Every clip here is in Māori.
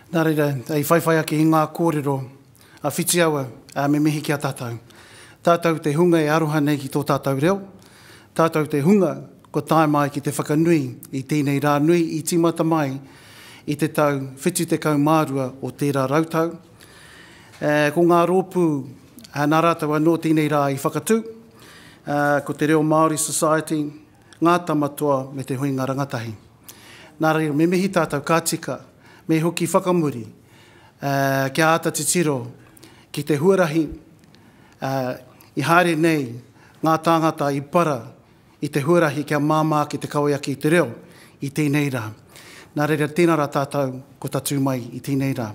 Nā reira, i whaiwhai ake i ngā kōrero a Whitiawa, ā, me mihi ki a tātou. Tātou te hunga e aroha nei ki tō tātou reo, tātou te hunga kua tae mai ki te whakanui i tēnei rā nui i tīmata mai i te tau 72 o tērā rautau, Ko ngā rōpū nā rātou anō tēnei rā i whakatū, ko Te Reo Māori Society, Ngā Tamatoa me Te Huinga Rangatahi. Nā reira, me mihi tātou ka tika, me hoki whakamuri kia āta titiro ki te huarahi i haere nei ngā tāngata i para i te huarahi kia māmā ake te kawe ake i te reo i tēnei rā. Nā reira, tēnā rā tātou ko tatū mai i tēnei rā.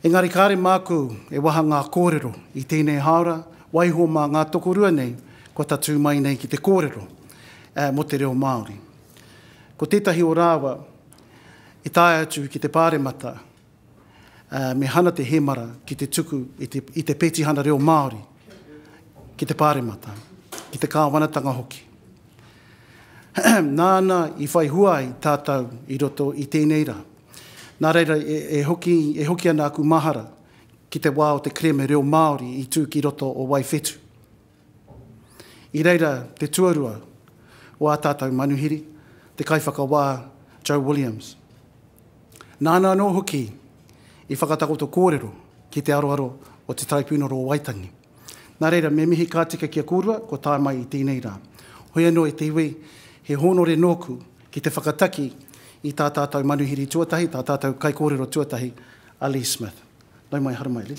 Engari kāre māku e waha ngā kōrero i tēnei hāora, waiho mā ngā tokorua nei kua tatū mai nei ki te kōrero mō te reo Māori. Ko tētahi o rāua i tae atu ki te Pāremata me Hana Te Hemara ki te tuku i te petihana reo Māori ki te Pāremata, ki te kāwanatanga hoki. Nāna i whai hua ai tātou i roto i tēnei rā. Nā reira, e hoki, e hoki ana aku mahara ki te wā o te kereme reo Māori i tū ki roto o Waiwhetu. I reira te tuarua o ā tātou manuhiri, te Kaiwhakawā Joe Williams. Nāna anō hoki i whakatakoto kōrero ki te aroaro o Te Taraipiunara o Waitangi. Nā reira, me mihi ka tika ki a kōrua kua tae mai i tēnei rā. Hoi anō e te iwi, he hōnore nōku ki te whakataki i tā tātou manuhiri tuatahi, tā tātou kaikōrero tuatahi a Lee Smith. Nau mai, haramai Lee.